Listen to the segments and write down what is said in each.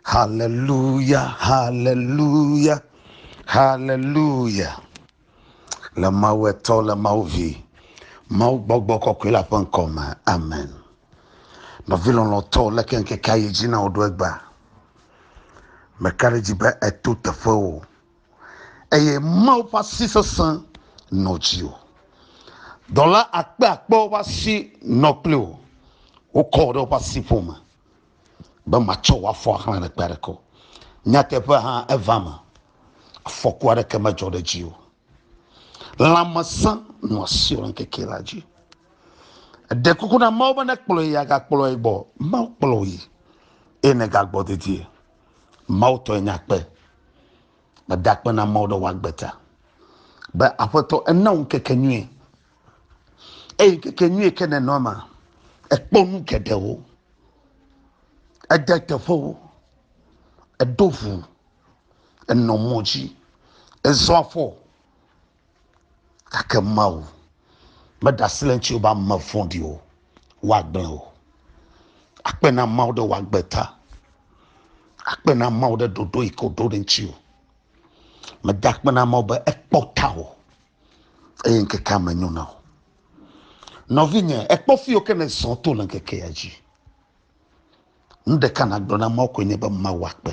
Haleluya, haleluya, haleluya. Le Mawu etɔ, le Mawu vi, Mawu gbɔgbɔ kɔkɔe la ƒe ŋkɔ me. Amen. Nɔvi lɔlɔ̃tɔ le ke ŋkekea yi dzi na wòɖo egba. Meka ɖe dzi be eto teƒe o. eye Mawu ƒe asi sesẽ nɔ dziwò. Dɔla akpeakpewo ƒe asi nɔ kpli wò. Wokɔ wò ɖe woƒe asiƒome be matsɔ wò afɔ axlã ɖe kpe aɖeke o. Nyateƒea hã eva eme. Afɔku aɖeke medzɔ ɖe dziwò. Lãmesẽ nɔ asiwò le ŋkeke la dzi. Èɖe kuku na Mawu be nekplɔ ye yi agakplɔe gbɔ. Mawu kplɔ wò yi eye nègagbɔ dedie. Mawu tɔe nya kpe. Meda akpe na Mawu ɖe wòagbe ta be Aƒetɔ ena wò ŋkeke nyuie. Eye ŋkeke nyuie ke nenɔ ma, ekpɔ nu geɖewo, ede teƒewo, eɖo ʋu, enɔ mɔ dzi, ezɔ afɔ. Gake Mawu meɖe asi le ŋuti be ame vɔ̃ɖiwo woagblẽ o. Akpe na Mawu ɖe wòagbe ta. Akpe na Mawu ɖe ɖoɖo yi ke wòɖo ɖe ŋuti o. Meda akpe na Mawu be ekpɔ ta o eye ŋkekea me nyo na o. Nɔvinye, ekpɔ fi yiwo ke nèzɔ to le ŋkekea dzi. Nu ɖeka nàgblɔ na Mawu koe nye be Mawu akpe.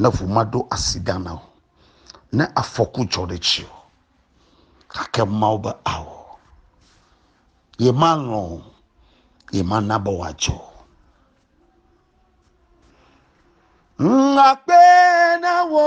ne ŋu maɖo asi ɖa na wò, ne afɔku dzɔ ɖe dziwò, gake Mawu be ao, yemalɔ̃ o, yemana be wòadzɔ o. Ŋakpe na wò.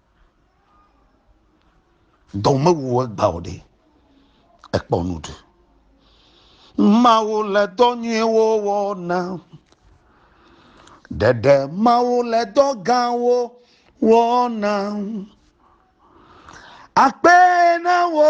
Dɔ mewu egba o ɖe, ekpɔ nu ɖu. Mawu le dɔ nyuiwo wɔ na. Ɖeɖe Mawu le dɔ gãwo wɔ na. Akpe na wò.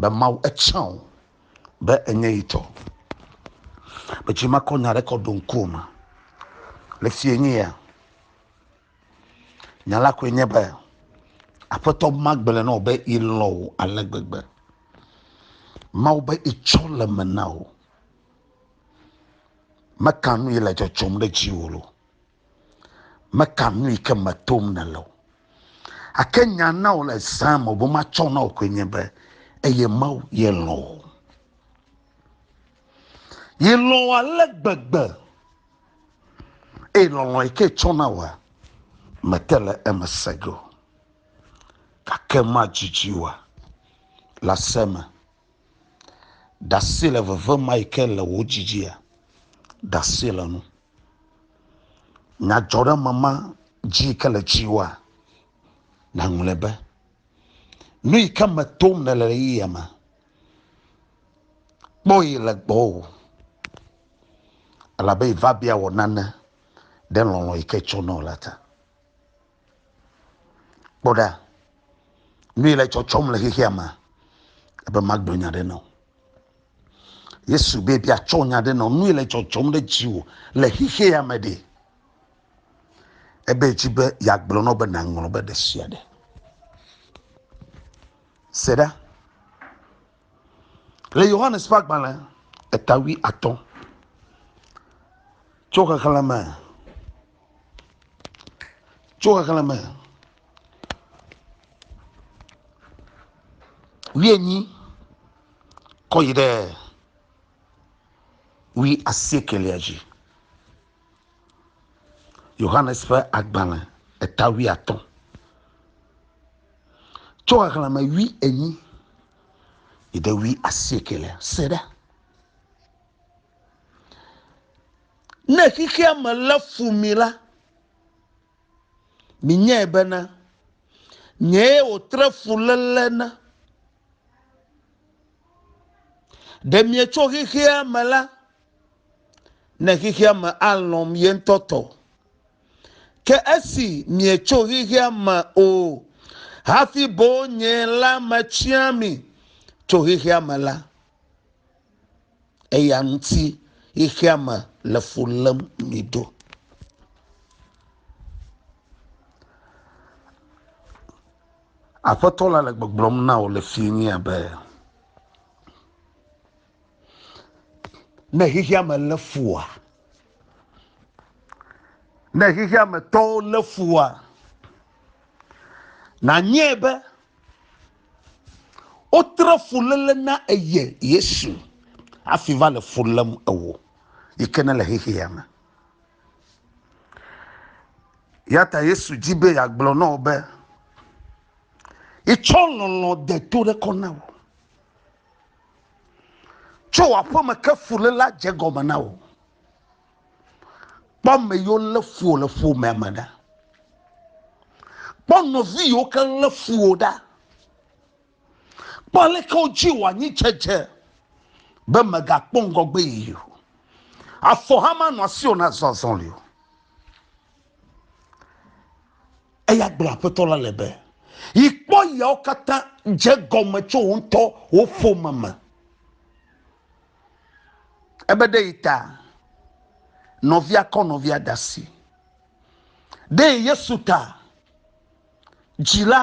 be mawu etsã o be enye yi tɔ metsi makɔ nya ɖe kɔ ɖo ŋku o ma le fie nye ya nya la koe nye be aƒetɔ magblẽ na wò be ilɔ wò ale gbegbe mawu be itsɔ le me na wò meka nu yi le dzɔdzɔm ɖe dziwò lo Meka nu yi ke me tom nèle o. Ake nya na wò le zã me wòbe matsɔ na wò koe nye be eye Mawu ye lɔ̃ wò. Yi lɔ̃ wò ale gbegbe eye lɔlɔ̃ yi ke tsɔ na wòa, mete le eme se ge o. Gake madidi wòa le ase me. Ɖase le veve ma yi ke le wò dzi dzia? Ɖase le nu. Nyadzɔɖeme ma dzi yi ke le dziwòa? Naŋlɔe be. Nu yi ke me tom nèle le ɣeyiɣia me. Kpɔ yi le gbɔwò. Elabe yi va bia wò nane ɖe lɔlɔ̃ yi ke tsɔ nɔ la ta. kpɔ ɖa nu yi le tsɔtsɔm le xexea me ebe magblɔ nya ɖe nɔ yesu be bia tsɔ nya ɖe nɔ nu yi le tsɔtsɔm ɖe dziwò le xexea me ɖe ebe dzi be yeagblɔ nɔ be nàŋlɔ be ɖe sia ɖe se ɖa le yohanes ƒe agbalẽ etawui atɔ tso xexlẽme tso xexlẽme wuienyi kɔ yi ɖe wui asiekelia dzi. Yohanes ƒe agbalẽ eta wuiatɔ̃ tso xexlẽme wui enyi yi ɖe wui asiekelia. Se ɖe Ne xexea me lé fu mi la, minyae bena, nyee wòtre fuléle na. Ɖe mietso xexea me la, ne xexea me alɔ̃m ye ŋutɔ tɔ o. Ke esi mietso xexea me o hafi boŋ nye la metia mi tso xexea me la, eya ŋuti ye xeame le fu lém mi ɖo. Aƒetɔ la le gbɔgblɔm na wò le fi mi abe ne xexeame lé fua, ne xexeame tɔwo lé fua, nànyɔe be. Wotre fuléle na eye Yesu hafi va le fu lém ewò yi ke nèle xexea me. Ya ta Yesu di be yeagblɔ na wò be, Yetsɔ lɔlɔ̃ de to ɖe kɔ na wò. Tso wò aƒeme ke fulélea dze gɔme na wò. kpɔ ame yiwo lé fu wò le ƒomea me ɖa kpɔ nɔvi yiwo ke lé fu wò ɖa kpɔ aleke wodzi wò anyi dzedze be mègakpɔ ŋgɔgbe yiyi o afɔ hã manɔ asiwò nazɔ azɔli o eya gblɔ aƒetɔ la le be yi kpɔ yawo katã dze gɔme tso wò ŋutɔ wò ƒome me Ebe ɖe yi ta nɔvia kɔ nɔvia da si. Ɖe yi Yesu ta dzila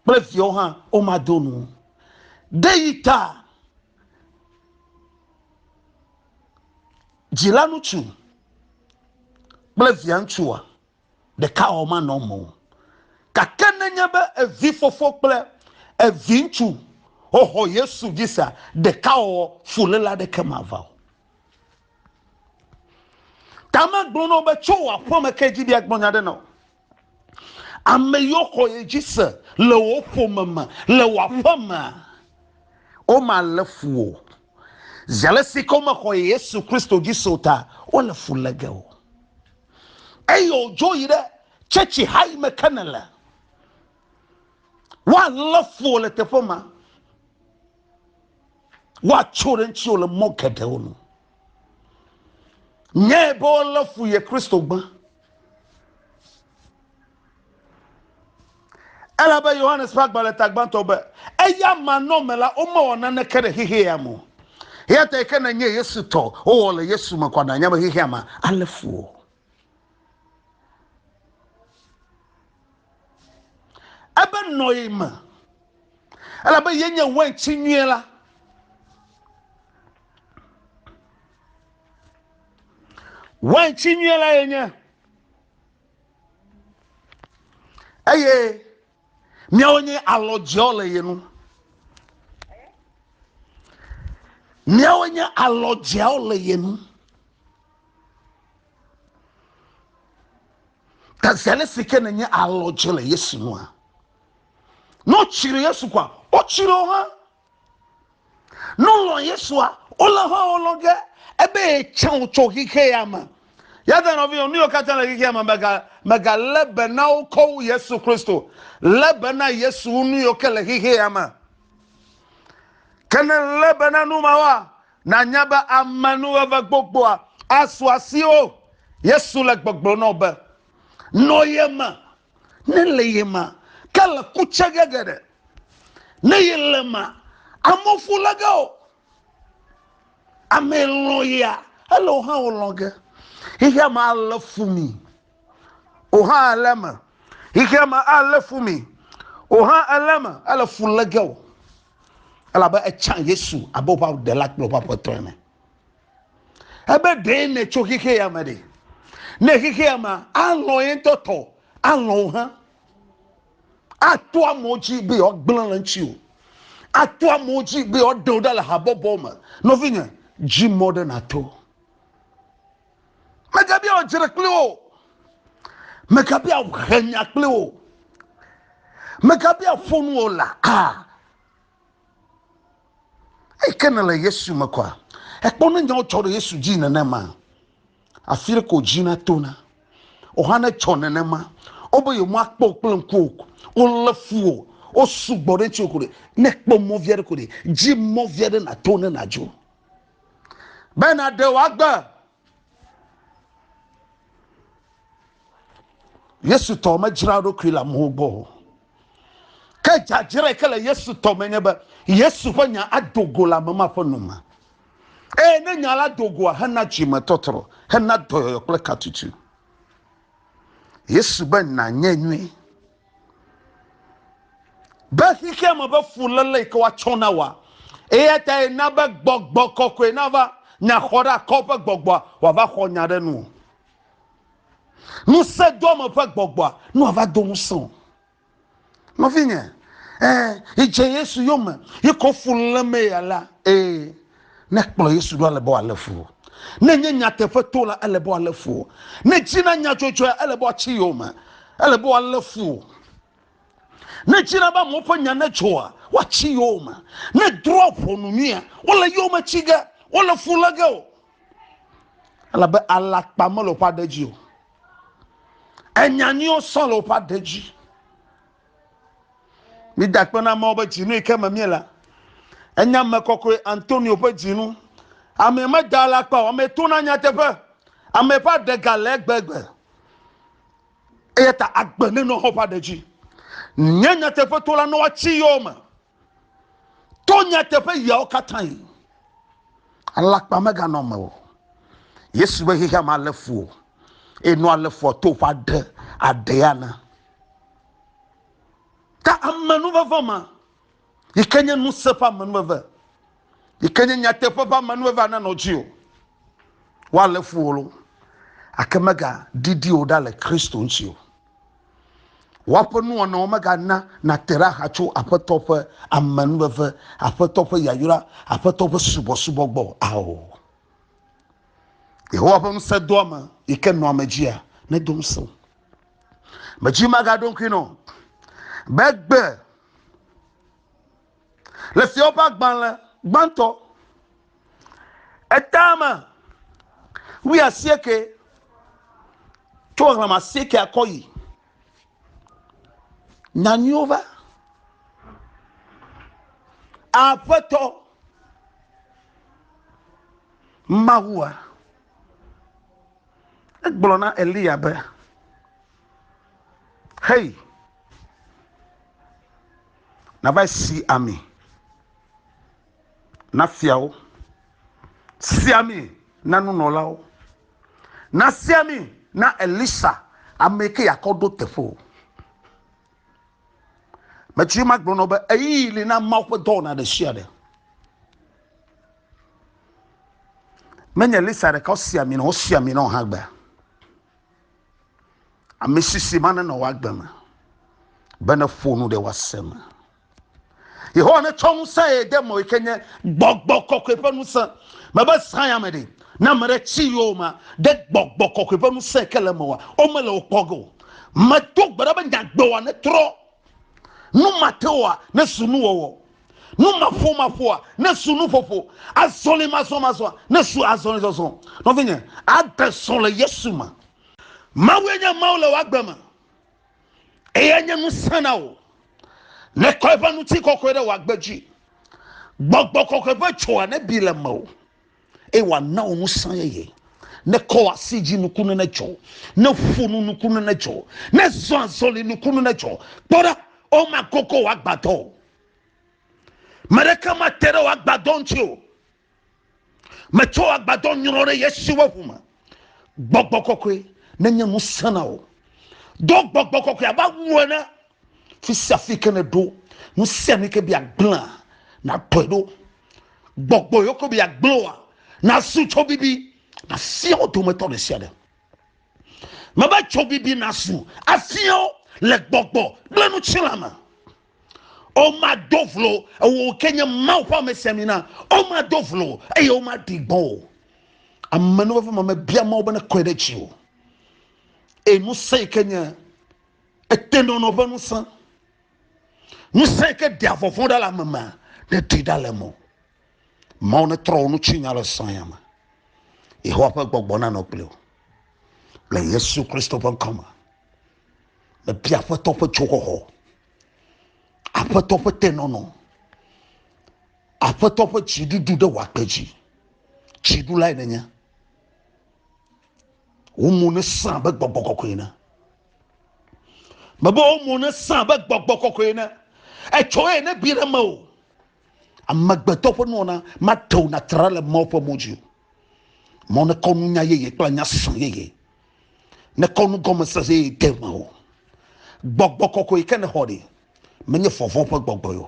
kple viawo hã womado nu. Ɖe yi ta dzila ŋutsu kple via ŋutsua ɖekawɔwɔ manɔ eme o. Gake nenye be evifofo kple eviŋutsu xɔxɔ Yesu dzi sea, ɖekawɔwɔ fuléle aɖeke mava o. Tame gblɔ na wo be, Tso wò aƒeme ke dzi be agblɔ nya aɖe na wò. Ame yiwo xɔ ye dzi se le wò ƒome me, le wò aƒemea, womalé fu wò o. Zi alesi ke womexɔ Yesu Kristo dzi se o ta, wole fu lé ge wò. eye wòdzo yi ɖe tsɛtsi ha yi me ke nèle. Woalé fu wò le teƒe ma. Woatso ɖe ŋutiwò le mɔ geɖewo nu. Nyae be wolé fu ye Kristogbe. Elabe Yohanes ƒe agbalẽ ta gbãtɔ be, Eya manɔme la, womewɔ naneke ɖe xexea me o. Eya tae ke nènye Yesu tɔ, wowɔ le Yesu me kɔ na nya be xexea me alé fu wò. Ebe nɔ ye me, elabe ye nye wɛntsi nyuie la. Wɛntsi nyuie la ye nye. eye miawo nye alɔ dzeɔ le ye nu miawo nye alɔ dzeawo le ye nu ta zɛle si ke nenye alɔ dze le yesu nua ne wotsiri yesu kɔa wotsiri wo hã Ne wòlɔ̃ Yesua, wolé hã wolɔ ge ebe yetsã wòtso xexea me. Ya ta nɔvinyɔ, nu yiwo katã le xexea me, mèga, mègalé be na wo kɔ wu Yesu Kristo. Lé be na Yesu wu nu yiwo ke le xexea me. Ke ne lé be na nu mawoa, nànya be ame nuweve gbogboa asu asiwò. Yesu le gbɔgblɔm na wò be, Nɔ ye me. ne le ye ma ke le kutsɛ ge geɖe ne ye le ma amefu le ge o ame lɔ ya ele o hã o lɔ ge ihe ma le fu mi o hã ele me ihe ma ele fu mi o hã ele me ele fu le ge o elabe etsa yesu abe woƒe ɖela kple woƒe aƒetɔ ene ebe ɖee nètso xexe ya me ɖe ne xexe ya me alɔ ye ŋutɔ tɔ alɔ wo hã ato amewo dzi be yewoagblẽ le ŋuti o ato amewo dzi be yewoaɖe wo ɖa le habɔbɔ me nɔvinye dzi mɔ ɖe nato megabia wòdzre kpli wo megabia wòhe nya kpli wo megabia ƒonu wo la a ah. eyi ke nèle Yesu me kɔa, èkpɔ ne nyawo tsɔ ɖe Yesu dzi nenema? Afi ɖe ko dzi na tona. O hã ne tsɔ nenema. Wobe yewomakpɔ wò kple ŋku o. Wolé fu wò. Wosugbɔ ɖe ŋutiwò ko ɖe. Ne èkpɔ mɔ vi aɖe ko ɖe, dzi mɔ vi aɖe nàto ne nàdzo. Be nàɖe wò agbe yesu tɔ medzra ɖokui le amewo gbɔ o ke dzadzrae ke le yesu tɔ me nye be yesu ƒe nya ado go le ame ma ƒe nu me eye ne nya la do goa hena dzime tɔtrɔ hena dɔyɔyɔ kple katutu yesu be nanye nyui Be xexea me be fuléle yi ke woatsɔ na wòa. Eya tae na be gbɔgbɔ kɔkɔe nava nya xɔ ɖe akɔ ƒe gbɔgbɔa wòava xɔ nya ɖe nu. Ŋusẽ do ame ƒe gbɔgbɔa ne wòava do ŋusẽ o. Nɔvinye, ẽ, yi dze Yesu yome, yi ke wo fu lé mee alea, ẽ. Ne kplɔ Yesu ɖo ale be wòalé fu wò. Ne nye nyateƒe to la, ele be wòalé fu wò. Ne dzi na nyadzɔdzɔe, ele be wòatsi yowòme. Ele be wòalé fu wò. Ne dzi na be amewo ƒe nya nedzɔa, woatsi yowòme. Ne drɔ̃a ʋɔnu nyuia, wole yowòme tsi ge. Wole fu lé ge wò. Elabe alakpa mele woƒe aɖe dzi o. Enya nyuiwo sɔ le woƒe aɖe dzi. Meda akpe na amewo be dzinu yi ke me míele. Enye ame kɔkɔe Antonio ƒe dzinu. Ame meda alakpa o, ame tona nyateƒe, ame ƒe aɖe gale egbegbe. Eya ta agbe nenɔ xɔ ƒe aɖe dzi. Nye nyateƒetola nɔ woatsi yɔ me. To nyateƒe yiawo katãe. Alakpa meganɔ me o. Yesu be xexea me alé fu o. Eye nɔ alé fua to ƒe aɖe aɖee ana. Ta amenuveve ma, yi ke nye ŋusẽ ƒe amenuveve, yi ke nye nyateƒe ƒe ame nue va nanɔ dzi o. Woalé fu wò loo, gake megaɖiɖi wò ɖa le Kristo ŋuti o. Woaƒe nuwɔnawo megana nàte ɖe axa tso Aƒetɔ ƒe amenuveve, Aƒetɔ ƒe yayra, Aƒetɔ ƒe subɔsubɔ gbɔ o. Ao. Yehowa ƒe ŋusẽdoame yi ke nɔa ame dzia, nedo ŋusẽ wò. Medzi magaɖo ŋkui nɔ be egbe Le Fiawo ƒe Agbalẽ Gbãtɔ, etame wuiasieke, tso xexlẽme asiekea kɔ yi, nya nyuiwo va. Aƒetɔ Mawua, egblɔ na Eliya be, Xeyi. Nava si ami na fiawo, si ami na nunɔlawo, nasi ami na Elisa, amee ke yeakɔ ɖo teƒe o. Metsri ma gblɔ na be ɣeyiɣi li na Mawu ƒe dɔwɔna ɖe sia ɖe. Menye Elisa ɖeka wosi ami nɔ, wosi ami nɔ hã gbea. Amisisi ma nenɔ w'agbe me, be neƒo nu ɖe w'ase me. Yehowa netsɔ ŋusẽ ye de mɔ yike nye gbɔgbɔ kɔkɔe ƒe ŋusẽ. Mebe zã ya me ɖe, ne ame ɖe tsi yowòmea, ɖe gbɔgbɔ kɔkɔe ƒe ŋusẽ yike le eme wa, womele wo kpɔ ge o. Medo gbe ɖa be nya gbewòa netrɔ, nu mateoa nezu nuwɔwɔ. Numaƒomaƒoa nesu nuƒoƒo, azɔlimazɔmazɔa nesu azɔlizɔzɔ. Nɔvinye, ade srɔ̃ le Yesu me. Mawue nye Mawu le wò agbe me, eye enye ŋusẽ na wò. Nekɔ eƒe ŋutikɔkɔe ɖe wò agbe dzi. Gbɔgbɔ kɔkɔe ƒe dzoa nebi le mewò. eye wòana wò ŋusẽ yeye. Ne kɔ asi dzi nukunu nedzɔ, ne ƒo nu nukunu nedzɔ, ne zɔ azɔli nukunu nedzɔ. Kpɔ ɖa, womakoko wò agbadɔ o. Me ɖeke mate ɖe wò agbadɔ ŋuti o. Metsɔ wò agbadɔ nyrɔ ɖe Yesu ƒe ʋu me. gbɔgbɔ kɔkɔe nenye nu sena o do gbɔgbɔ kɔkɔe abe awu ene fi sia fi ke nèɖo nu sia nu ke bi agblẽa nakpɔe ɖo gbɔgbɔ yoko bi agblẽa nasu tso bibi nafia wo dometɔ ɖe sia ɖe mebe tso bibi nasu afia wo le gbɔgbɔ kple nu tsila me Womado vlo ewò ke nye Mawu ƒe amesiamina. Womado vlo eye womaɖi gbɔn o. Amenuveve ƒe mame bia Mawu be nekɔe ɖe dzi o. Eye ŋusẽ yi ke nye etenɔnɔ ƒe ŋusẽ, ŋusẽ yi ke ɖea vɔvɔ̃ ɖa le ame me, neɖi ɖa le mo. Mawu netrɔ wò nutsinya le sɔ̃ ya me. Yehowa ƒe gbɔgbɔ nanɔ kpli wò le Yesu Kristo ƒe ŋkɔ me. Mebia aƒetɔ ƒe dzoxɔxɔ, aƒetɔ ƒe tenɔnɔ, aƒetɔ ƒe dziɖuɖu ɖe wòakpe dzi. Dziɖulae nenye. Wo mo nesã abe gbɔgbɔ kɔkɔe ene. Mebe wo mo nesã abe gbɔgbɔ kɔkɔe ene. Etsɔ eye ne bi ɖe me o. Amegbetɔ ƒe nuwɔna mate ŋu natra le Mawu ƒe mo dzi o. Mɔ nekɔ nunya yeye kple nya srɔ̃ yeye. nekɔ nu gɔme sese yi te me o gbɔgbɔ kɔkɔe ke nexɔ ɖi menye vɔvɔ̃ ƒe gbɔgbɔe o